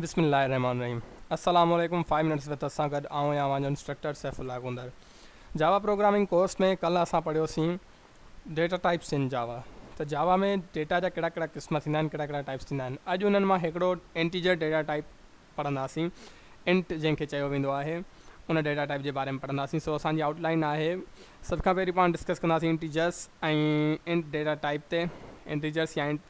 بسم الله الرحمٰن الرحيم السلام عليڪم فائيو منٽس وٿ اسان سان گڏ آئون يا اوهان جو instructor Saifullah Gondar Java programming course ۾ ڪلهه اسان پڙهيوسين ڊيٽا ٽائپس ان جاوا ته جاوا ۾ ڊيٽا جا ڪهڙا ڪهڙا قسم ٿيندا آهن ڪهڙا ڪهڙا ٽائپس ٿيندا آهن اڄ انهن مان هڪڙو انٽيجر ڊيٽا ٽائپ پڙهنداسين انٽ جنهن کي چيو ويندو آهي ان ڊيٽا ٽائپ جي باري ۾ پڙهنداسين سو اسان جي آئوٽ لائن آهي سڀ کان پهرين پاڻ ڊسڪس ڪنداسين انٽيجرس ۽ انٽ ڊيٽا ٽائپ تي انٽيجرس يا انٽ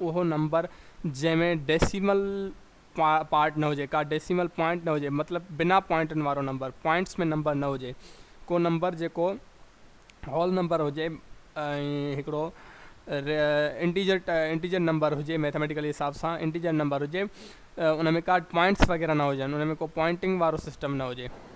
اهو نمبر جنهن ۾ ڊيسيمل پارٽ نه هجي، ڪا ڊيسيمل پوائنٽ نه هجي، مطلب بنا پوائنٽن وارو نمبر، پوائنٽس ۾ نمبر نه هجي، ڪو نمبر جيڪو هول نمبر هجي ۽ هڪڙو انٽيجر انٽيجر نمبر هجي، ميٿاميٽيڪلي حساب سان انٽيجر نمبر هجي، ان ۾ ڪا پوائنٽس وغيره نه هجن، ان ۾ ڪو پوائنٽنگ وارو سسٽم نه هجي.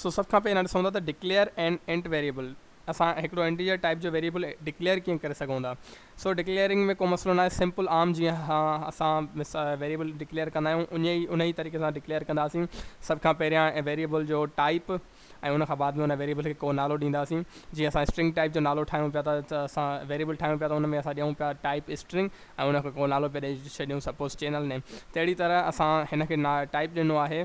سو سڀ کان پهريان ڏسون ٿا ته ڊڪليئر اين انٽ ويريبل اسان هڪڙو انٽيجر ٽائپ جو ويريبل ڊڪليئر ڪيئن ڪري سگهون ٿا سو ڊڪليئرنگ ۾ ڪو مسئلو ناهي سمپل عام جيئن اسان ويريبل ڊڪليئر ڪندا آهيون ان ان ئي طريقي سان ڊڪليئر ڪنداسين سڀ کان پهريان ويريبل جو ٽائپ ۽ ان کان بعد ۾ ان ويريبل کي ڪو نالو ڏينداسين جيئن اسان اسٽرنگ ٽائپ جو نالو ٺاهيون پيا ته اسان ويريبل ٺاهيون پيا ته ان ۾ اسان ڏيون پيا ٽائپ اسٽرنگ ۽ ان کي ڪو نالو پيا ڏئي ڇڏيون سپوز چينل نيم تهڙي طرح اسان هن کي ٽائپ ڏنو آهي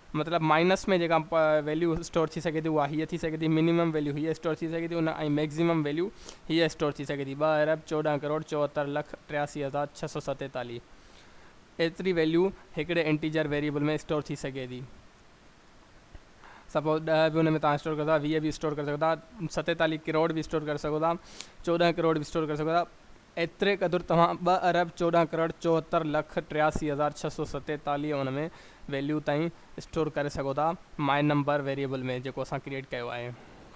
مطلب مائنس ۾ جيڪا ويليو اسٽور ٿي سگهي ٿي اها هيء ٿي سگهي ٿي، منيمم ويليو هيء اسٽور ٿي سگهي ٿي ان ۽ ميڪسيمم ويليو هيء اسٽور ٿي سگهي ٿي ٻه ارب چوڏهن ڪروڙ چوهتر لک ٽياسي هزار ڇهه سؤ ستيتاليهه ايتري ويليو هڪڙي انٽيجر ويريبل ۾ اسٽور ٿي سگهي ٿي سپوز ڏهه به ان ۾ توهان اسٽور ڪريو ٿا ويهه به اسٽور ڪري سگهو ٿا ستيتاليهه ڪروڙ به اسٽور ڪري سگهو ٿا چوڏهن ڪروڙ به اسٽور ڪري سگهو ٿا ايتري قدر توهان ٻه ارب چوڏهن ڪروڙ چوهتر لک ٽياسي هزار ڇهه سؤ ستيتاليهه ان ۾ ويليو تائين اسٽور ڪري سگهو ٿا مائي نمبر ويريبل ۾ جيڪو اسان ڪريئيٽ ڪيو آهي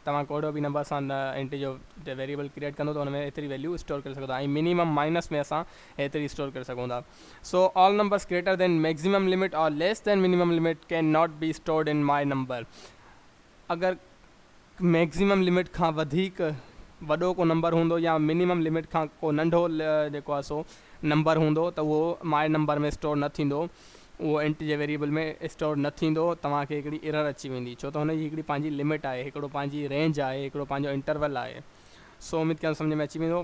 توهان ڪهڙو به نمبر اسان انٽيجر تي ويريبل ڪريئيٽ ڪندو ته ان ۾ ايتري ويليو اسٽور ڪري سگهو ٿا ۽ مينيمم مائنس ۾ اسان ايتري اسٽور ڪري سگهون ٿا so all numbers greater than maximum limit or less than minimum limit can not be stored in my number اگر ميڪزيمم لمٽ کان وڌيڪ وڏو ڪو نمبر هوندو يا منيمم لمٽ کان ڪو ننڍو جيڪو آهي سو نمبر هوندو ته اهو ماء نمبر ۾ اسٽور نه ٿيندو اهو انٽجر ويريبل ۾ اسٽور نه ٿيندو توهان کي هڪڙي ايرر اچي ويندي ڇو ته هن جي هڪڙي پنهنجي لمٽ آهي هڪڙو پنهنجي رينج آهي هڪڙو پنهنجو انٽرول آهي سو اميد ڪيان ٿو سمجهه ۾ اچي ويندو.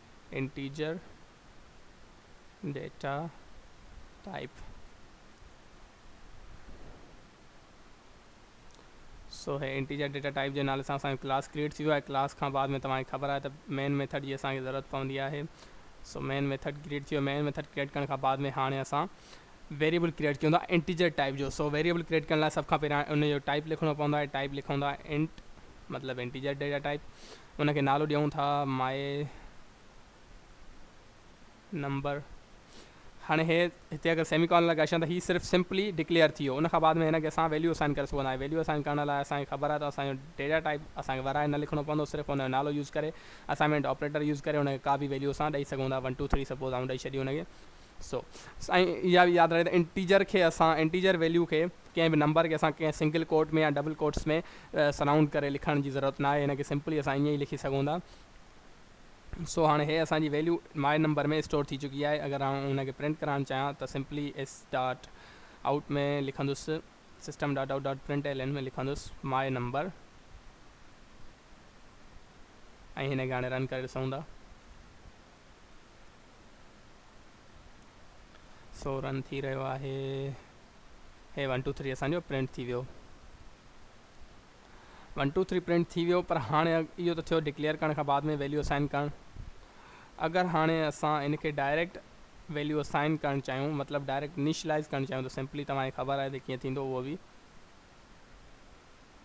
انٽيجر ڊيٽا ٽائيپ سو هي انٽيجر ڊيٽا ٽائپ جي نالي سان اسان جو ڪلاس ڪريئيٽ ٿي ويو آهي ڪلاس کان بعد ۾ توهان کي خبر آهي ته مين ميٿڊ جي اسان کي ضرورت پوندي آهي سو مين ميٿڊ ڪريئيٽ ٿي ويو مين ميٿڊ ڪريئيٽ ڪرڻ کان بعد ۾ هاڻي اسان ويريبل ڪريئيٽ ڪيون ٿا انٽيجر ٽائپ جو سو ويريبل ڪريئيٽ ڪرڻ لاء سڀ کان پهريان ان جو ٽائپ لکڻو پوندو آهي ٽائپ لکون ٿا انٽ مطلب انٽيجر ڊيٽا ٽائپ ان کي نالو ڏيون ٿا My Number هاڻي هي هتي اگر سيمي ڪالن لڳائي ڇڏيان ته هي صرف سمپلي ڊڪليئر ٿي ويو ان کان بعد ۾ هن کي اسان ويليو اسائن ڪري سگهندا آهيون ويليو اسائن ڪرڻ لاء اسان کي خبر آهي ته اسان جو ڊيٽا ٽائپ اسان کي ورهائي نه لکڻو پوندو صرف ان جو نالو يوز ڪري اسائنمينٽ آپريٽر يوز ڪري ان کي ڪا به ويليو اسان ڏئي سگهون ٿا ون ٽو ٿري سپوز آئون ڏئي ڇڏي ان کي سو سائين اها به ياد رهي ته انٽيجر کي اسان انٽيجر ويليو کي ڪنهن به نمبر کي اسان ڪنهن سنگل ڪوٽ ۾ يا ڊبل ڪوٽس ۾ سرائونڊ ڪري لکڻ جي ضرورت ناهي هن کي سمپلي اسان ائين ئي لکي سگهون ٿا سو هاڻي هي اسان جي ويليو ماء نمبر ۾ اسٽور ٿي چڪي آهي اگر آئون ان کي پرنٽ ڪرائڻ چاهيان ته سمپلي ايس ڊاٽ آئوٽ ۾ لکندس system dot out dot print L N ۾ لکندس ماء نمبر ۽ هن کي هاڻي رن ڪري ڏسون ٿا سو رن ٿي رهيو آهي هي ون ٽو ٿري اسان جو پرنٽ ٿي ويو ون ٽو ٿري پرنٽ ٿي ويو پر هاڻي اهو ته ٿيو ڊڪليئر ڪرڻ کان بعد ۾ ويليو اسائن ڪرڻ اگر هاڻي اسان ان کي ڊائريڪٽ ويليو اسائن ڪرڻ چاهيون مطلب ڊائريڪٽ انيشلائز ڪرڻ چاهيون ته سمپلي توهان کي خبر آهي ته ڪيئن ٿيندو اهو به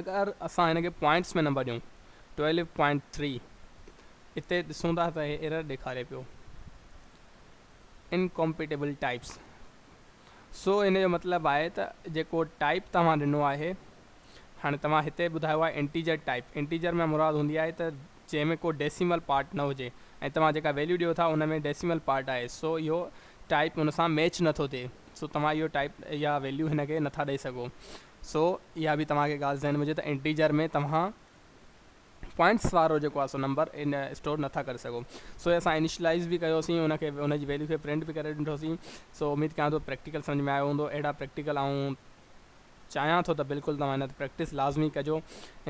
اگر اسان هن کي پوائنٽس ۾ نمبر ڏيون 12.3 اتي ڏسون ٿا ته هي ايرر ڏيکاري پيو انڪمپيٽيبل ٽائپس سو ان جو مطلب آهي ته جيڪو ٽائپ توهان ڏنو آهي هاڻي توهان هتي ٻڌايو آهي انٽيجر ٽائپ انٽيجر ۾ مراد هوندي آهي ته جنهن ۾ ڪو ڊيسيمل پارٽ نه هجي ۽ توهان جيڪا ويليو ڏيو ٿا ان ۾ ڊيسيمل پارٽ آهي سو اهو ٽائپ ان سان ميچ نٿو ٿئي سو توهان اهو ٽائيپ يا ويليو هن کي نٿا ڏئي سگهو. سو اها به توهان کي ڳالهه ذهن ۾ هجي ته انٽيجر ۾ توهان پوائنٽس وارو جيڪو آهي سو نمبر اسٽور نٿا ڪري سگهو. سو اسان انيشلائز به ڪيوسين ان کي ان جي ويليو کي پرنٽ به ڪري ڏٺوسين. سو اميد ڪيان ٿو پريڪٽيڪل سمجهه ۾ آيو هوندو. اهڙا پريڪٽيڪل آئون چاهيان ٿو ته بلڪل توهان هن تي پريڪٽس لازمي ڪجو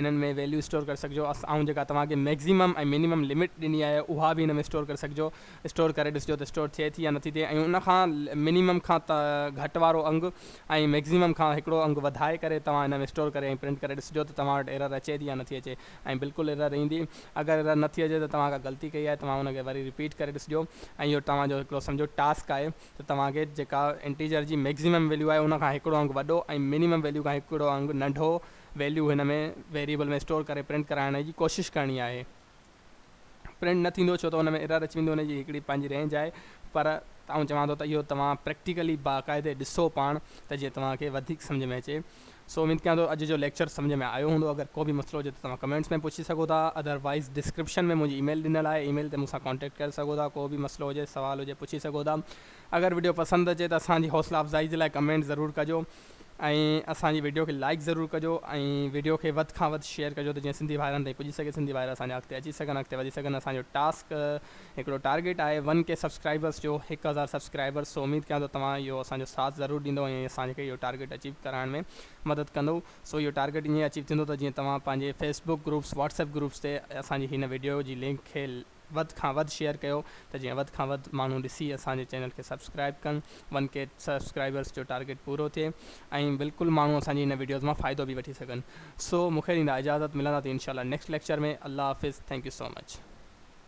انهن ۾ ويليو اسٽور ڪري سگهجو آئون جيڪا توهان کي ميڪزيمم ۽ مينيمم لمٽ ڏني آهي اها به هن ۾ اسٽور ڪري سگهجو اسٽور ڪري ڏسجو ته اسٽور ٿئي ٿي يا نٿي ٿئي ۽ ان کان مينيمم کان گهٽ وارو انگ ۽ ميڪزيمم کان هڪڙو انگ وڌائي ڪري توهان هن ۾ اسٽور ڪري ۽ پرنٽ ڪري ڏسجو ته توهان وٽ ايرر اچي ٿي يا نٿي اچي ۽ بلڪل ايرر ايندي اگر ايرر نٿي اچي ته توهان ڪا غلطي ڪئي آهي توهان ان کي وري رپيٽ ڪري ڏسجو ۽ اهو توهان جو هڪڙو سمجهو ٽاسڪ آهي ته توهان کي جيڪا انٽيجر جي مئڪسيمم ويليو آهي ان کان هڪڙو انگ وڏو ۽ مينيمم ويليو کان هڪڙو انگ ننڍو ويليو هن ۾ ويريبل ۾ اسٽور ڪري پرنٽ ڪرائڻ جي ڪوشش ڪرڻي آهي پرنٽ نه ٿيندو ڇو ته ان ۾ ايرر اچي ويندو ان جي هڪڙي پنهنجي رينج آهي پر آئون چوان ٿو ته اهو توهان پريڪٽيڪلي باقاعدي ڏسو پاڻ ته جيئن توهان کي وڌيڪ سمجهه ۾ اچي سو اميد ڪيان ٿو اڄ جو ليڪچر سمجهه ۾ آيو هوندو اگر ڪو به مسئلو هجي ته توهان ڪمينٽس ۾ پڇي سگهو ٿا اڌر وائيز ڊسڪرپشن ۾ منهنجي اي ميل ڏنل آهي اي ميل تي مون سان ڪانٽيڪٽ ڪري سگهو ٿا ڪو به مسئلو هجي سوال هجي پڇي سگهو ٿا اگر وڊيو پسند اچي ته اسان جي حوصلا افزائي جي لاء ڪمينٽ ضرور ڪجو ۽ اسان جي وڊيو کي لائڪ ضرور ڪجو ۽ وڊيو کي وڌ کان وڌ شيئر ڪجو ته جيئن سنڌي ڀائرن تائين پڄي سگهي سنڌي ڀائر اسان جا اڳتي اچي سگهن اڳتي وڌي سگهن اسان جو ٽاسڪ هڪڙو ٽارگيٽ آهي ون ڪي سبسڪرائبرس جو هڪ هزار سبسڪرائبرس سو اميد ڪيان ٿو توهان اهو اسان جو ساٿ ضرور ڏيندو ۽ اسان کي اهو ٽارگيٽ اچيو ڪرائڻ ۾ مدد ڪندو سو اهو ٽارگيٽ ائين اچيو ٿيندو ته جيئن توهان پنهنجي Facebook groups WhatsApp groups تي اسان جي هن وڊيو جي لنڪ کي وڌ کان وڌ شيئر ڪيو ته جيئن وڌ کان وڌ ماڻهو ڏسي اسان جي چينل کي سبسڪرائب ڪن ون ڪي سبسڪرائبرس جو ٽارگيٽ پورو ٿئي ۽ بلڪل ماڻهو اسان جي هن وڊيوز مان فائدو به وٺي سگهن سو مونکي ڏيندا اجازت ملندا ٿي انشاء الله نيڪسٽ ليڪچر ۾ الله حافظ ٿينڪ يو سو مچ.